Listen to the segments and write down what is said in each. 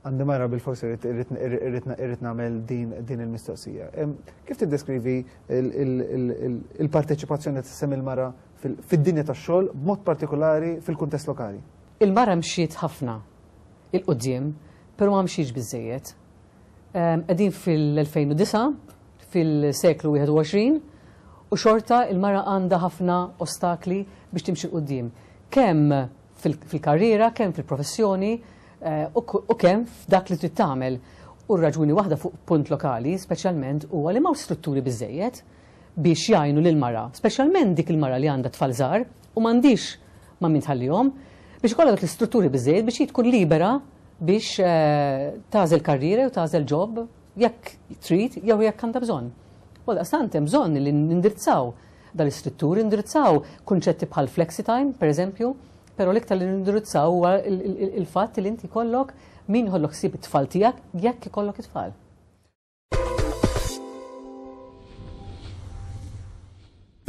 Għandi mara bil-forsi irrit namel din il-mistoqsija. Kif tiddeskrivi il-parteċipazzjoni t-sem il-mara fid-dinja ta' xol, b'mod partikolari fil-kuntest lokali? Il-mara mxiet ħafna il-qoddim, pero ma mxiex bizzejiet. Għedin fil-2009, fil-seklu 21, u xorta il-mara għanda ħafna ostakli biex timxi l-qoddim. Kem fil-karriera, kemm fil-professjoni u kemm f'dak li trid tagħmel. U r-raġuni waħda fuq punt lokali, speċjalment, huwa li m'hawnx strutturi biżżejjed biex jgħinu lill-mara, speċjalment dik il-mara li għandha tfal żgħar u m'għandhiex ma' min tħallihom, biex ikollha dak l-istrutturi biżżejjed biex hi tkun libera biex tagħżel karriera jew tagħżel ġob jekk trid jew jekk għandha bżonn. Għaldaqstant hemm bżonn li nindirizzaw Dan l-istrutturi indirizzaw kunċetti bħal flexitime, pereżempju, però l-iktar li nindirizzaw huwa il-fatt li inti jkollok min jħollok ħsieb it-tfal tiegħek jekk ikollok it-tfal.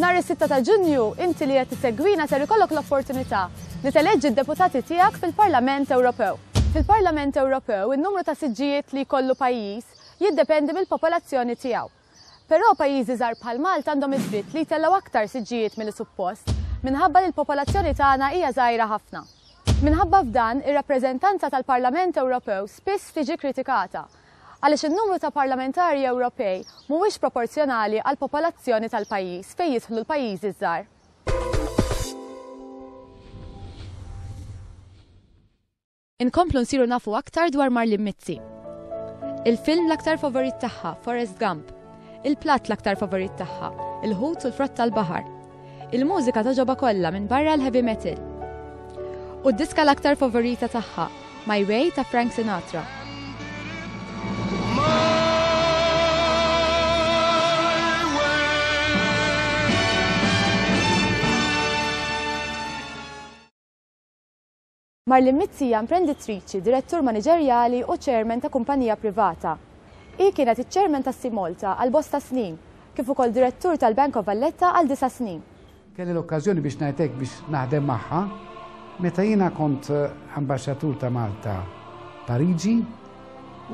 Nhar is-6 ta' Ġunju, inti li qed tissegwina ser ikollok l-opportunità li teleġġi d-deputati tiegħek fil-Parlament Ewropew. Fil-Parlament Ewropew, in-numru ta' siġġijiet li jkollu pajjiż jiddependi mill-popolazzjoni tiegħu. Però pajjiżi żgħar bħal Malta għandhom id-dritt li jtellgħu aktar siġġijiet milli suppost minħabba li l-popolazzjoni tagħna hija żgħira ħafna. Minħabba f'dan, ir-rappreżentanza tal-Parlament Ewropew spiss tiġi kritikata għaliex in-numru ta' parlamentari Ewropej mhuwiex proporzjonali għall-popolazzjoni tal-pajjiż fejn jidħlu l-pajjiżi ż-żgħar. Inkomplu nsiru nafu aktar dwar Marlin Mizzi. Il-film l-aktar favorit tagħha, Forrest Gump. Il-platt l-aktar favorit tagħha, il-ħut u l-frott tal-baħar. Il-mużika toġoba kollha minn barra l-heavy metal. U d-diska l-aktar favorita tagħha, My Way ta' Frank Sinatra. Marlin Mizzi hija imprendittriċi, direttur maniġerjali u chairman ta' kumpanija privata. Hi kienet iċ-chairman ta' Sea Malta għal bosta snin, kif ukoll direttur tal-Bank of Valletta għal disa' snin. Kelli l-okkażjoni biex ngħid hekk biex naħdem magħha meta jiena kont Ambaxxatur ta' Malta Pariġi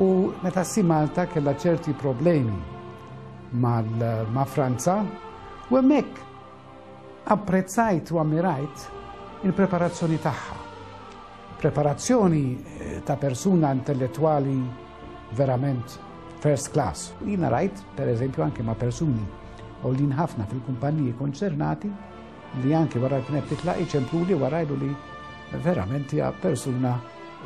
u meta Sea Malta kellha ċerti problemi ma' Franza u hemmhekk Apprezzajt u ammirajt il-preparazzjoni tagħha. Preparazzjoni eh, ta' persuna intellettwali verament first class. Jina rajt, per eżempju, anke ma' persuni għollin ħafna fil-kumpaniji konċernati li anke wara kienet titla' iċemplu li wara li verament hija persuna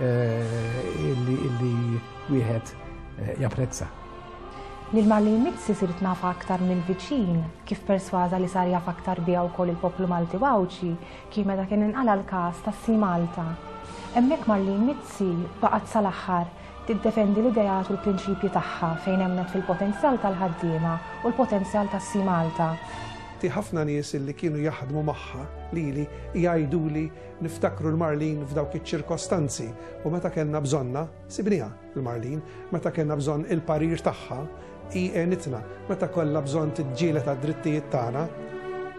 eh, illi wieħed eh, japprezza. Lil Marlene Mizzi sirt nafha aktar mill-viċin, kif persważa li sar jaf aktar biha wkoll il-poplu Malti u Għawdxi kien meta kien inqala' l-każ ta' Sea Malta. Hemmhekk Marlene Mizzi baqgħet sal-aħħar tiddefendi l-ideat u l-prinċipji tagħha fejn emmnet fil-potenzjal tal-ħaddiema u l-potenzjal ta' Sea Malta. Ti ħafna nies li kienu jaħdmu magħha, lili, jgħiduli niftakru 'l Marlene f'dawk iċ-ċirkostanzi u meta kellna bżonnha, sibniha. Il-Marlin, meta kellna bżonn il-parir tagħha, hi għenitna, meta kollha bżonn tiġġieled għad-drittijiet tagħna,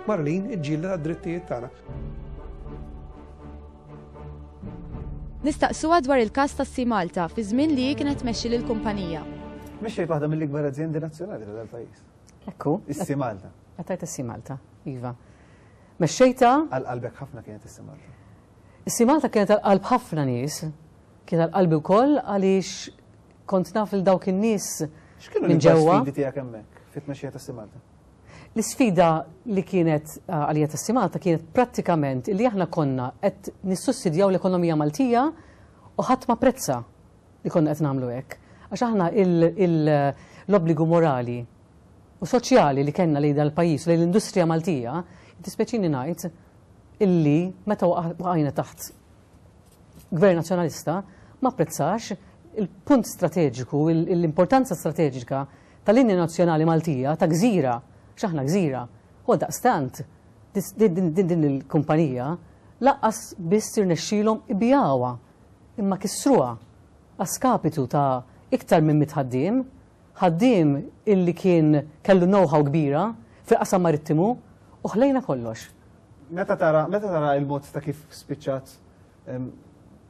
Marlin iġġieled għad-drittijiet tagħna. Nistaqsuha dwar il-każ ta' Sea Malta fi żmien li hi kienet tmexxi lill-kumpanija. Mexxejt waħda mill-ikbar azjendi nazzjonali tal-pajjiż. Ekku. Is-Sea Malta. Għatajt is-Sea Malta, iva. Mexxejta. Għal-qalbek ħafna kienet is-Sea Malta. Is-Sea Malta kienet għal-qalb ħafna nies. Kien għal qalbi wkoll għaliex kont naf lil dawk in-nies minn ġewwa. X'kienu l-isfidi tiegħek hemmhekk fit-tmexxija ta' Simalta? L-isfida li kienet għalija ta' Simalta kienet prattikament li aħna konna qed nissussidjaw l-ekonomija Maltija u ħadd ma prezza li konna qed nagħmlu hekk. Għax aħna l-obbligu morali u soċjali li kellna lejn dal-pajjiż lejn l-industrija Maltija, tispeċini ngħid illi meta waqajna taħt Gvern Nazzjonalista ma apprezzax il-punt strateġiku, l-importanza strateġika tal-linja nazzjonali Maltija ta' gżira, x'aħna gżira, u għaldaqstant din il-kumpanija lanqas biss irnexxielhom ibigħuha imma kissruha a skapitu ta' iktar minn mitt ħaddiem Ħaddiem illi kien kellu know-how kbira fil-qasam marittimu u ħlejna kollox. Meta tara, meta tara il-mod ta' kif spiċċat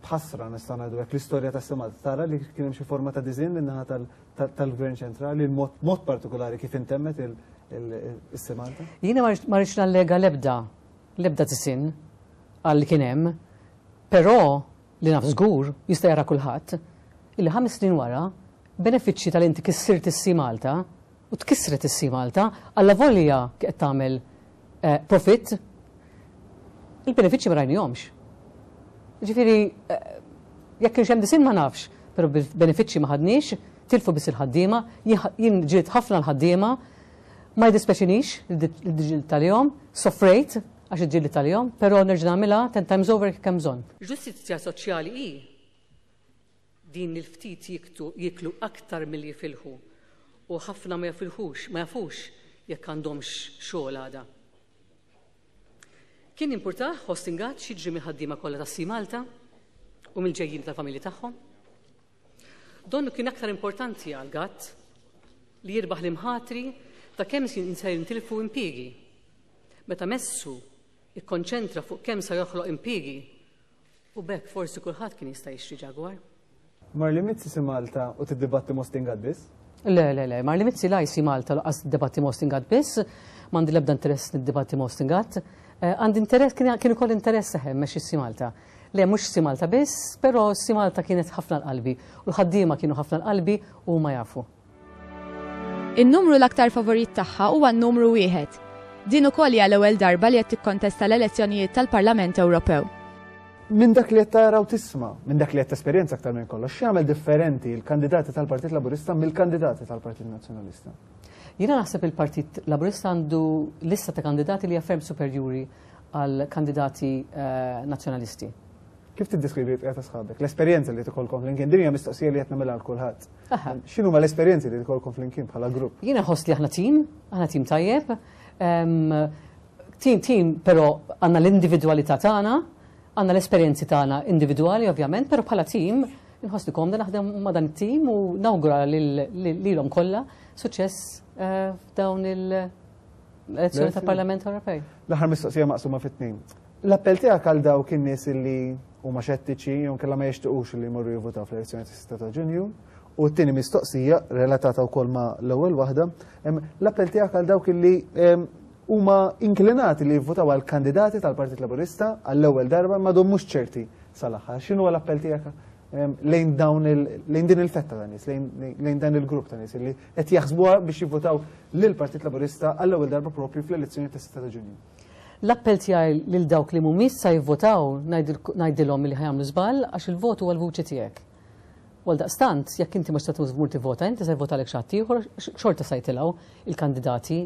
b'ħasra nista' ngħidu hekk l-istorja ta' Simat, tara li kien hemm xi forma ta' diżinn min-naħa tal-Gvern Ċentrali, mod partikolari kif intemmet il-Simanta? Jiena ma rridx nallega l-ebda, l-ebda diżinn għal kien hemm, però Li naf żgur, jista' jara kulħadd, illi ħames snin wara, b'benefiċċji ta' li inti kissirt is-Sea Malta, u tkissret is-Sea Malta, allavolja kieqed tagħmel profitt, il-benefiċċji ma rajnihomx. Jiġifieri, jekk kienx hemm disinn ma nafx, però benefiċċji ma ħadniex, tilfu biss il-ħaddiema, jien ġriet ħafna l-ħaddiema, ma jiddispeċinix li ġriet għalihom, sofrejt, Għax iġġieli tal-jom, però nerġa' nagħmilha ten times over jekk ikun hemm bżonn. Ġustizzja soċjali hi din li l-ftit jiktu jieklu aktar milli jifilħu u ħafna ma jafilħux, ma jafux jekk għandhomx xogħol għada. Kien jimpurtah Hostin Gatt x'jiġri mill-ħaddiema kollha ta' Sea Malta u mill-ġejjieni tal-familji tagħhom. Donnu kien aktar importanti għal Gatt li jirbaħ l-imħatri ta' kemm se jintilfu impjiegi meta messu ikkonċentra fuq kemm sa joħloq impiegi u b'hekk forsi kulħadd kien jista' jixtri Jaguar. Marli Mizzi si Malta u tiddibatti Mostin Gaddis? Le, le, le, Marli Mizzi la jsi Malta u laqqas tiddibatti Mostin Gadd biss, m'għandi l-ebda interess niddibatti Mostin Gadd. Eh, għandi interess, kien ukoll interess seħem mex si Malta. Le, mhux si Malta biss, però si Malta kienet ħafna l-qalbi u l-ħaddiema kienu ħafna l-qalbi u ma jafu. In-numru l-aktar favorit tagħha huwa n-numru wieħed. Din ukoll hija l-ewwel darba li qed tikkontesta l-elezzjonijiet tal-Parlament Ewropew. Minn dak li qed tara u tisma', minn dak li qed tesperjenza aktar minn kollox, x'jagħmel differenti l-kandidati tal-Partit Laburista mill-kandidati tal-Partit Nazzjonalista? Jiena naħseb il-Partit Laburista għandu lista ta' kandidati li hija ferm superjuri għall-kandidati eh, Nazzjonalisti. Kif tiddeskrivi l-bqija ta' sħabek? L-esperjenza li tkolkom flimkien, din hija mistoqsija li qed nagħmilha għal kulħadd. X'inhu ma l-esperjenzi li tkolkom flimkien bħala grupp? Jiena ħoss li aħna tim, aħna tim tajjeb. Ehm, tim tim, però għandna l-individwalità tagħna, għandna l-esperjenzi tagħna individwali ovvjament, però bħala tim nħossni komda naħdem ma' dan it-tim u nawgura lilhom kollha suċċess eh, f'dawn il-elezzjoni tal-Parlament Ewropej. L-aħħar mistoqsija maqsuma fit-tnejn. L-appell tiegħek għal dawk in-nies li huma xettiċi jew inkella ma jixtiequx li jmorru jivvutaw fl-elezzjoni tas-6 ta' Ġunju, u t-tieni mistoqsija relatata wkoll ma' l-ewwel waħda, l-appell tiegħek għal dawk li huma inklinati li jivvutaw għal kandidati tal-Partit Laburista għall-ewwel darba ma dom mhux ċerti sal-aħħar. X'inhu l-appell tiegħek lejn dawn lejn din il-fetta ta' nies, lejn dan il-grupp ta' nies li qed jaħsbuha biex jivvutaw lill-Partit Laburista għall-ewwel darba propju fl-elezzjoni tas-6 ta' Ġunju? L-appell tiegħi lil dawk li mhumiex sa jivvotaw ngħidilhom li ħa jagħmlu żball għax il-vot huwa l-vuċi tiegħek. U għaldaqstant, jekk inti mhux se tmur tivvota inti se jivvotalek xi ħadd ieħor għax xorta sa jitilgħu il-kandidati,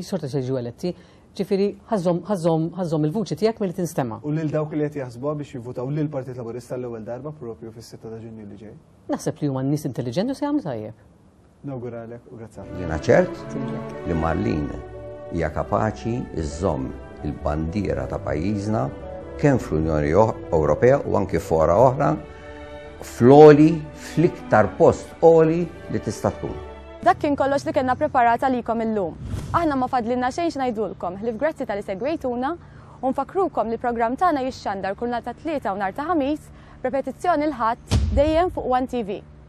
xorta se jiġu eletti. Ġifieri ħażżomm il-vuċi tiegħek milli tinstema'. U lil dawk li qed jaħsbuha biex jivvotaw lill-Partit Laburista għall-ewwel darba proprju fis-sitta ta' Ġunju li ġej? Naħseb li huma nies intelliġenti u se jagħmlu tajjeb. Nawguralek u grazzi ħafna. Jiena ċert li Marlin hija kapaċi iżżomm il-bandiera ta' pajjiżna kemm fl-Unjoni Ewropea u anki fora oħra fl-oli, fl-iktar post oli li tista' tkun. Dak kien kollox li kellna preparata likom illum. Aħna ma fadlinna xejn xnajdulkom, li f'grazzi tal-li segwejtuna, u nfakrukom li program tagħna jixxandar kull nhar ta' tlieta u nhar ta' ħamis, repetizzjoni l-ħadd dejjem fuq One TV.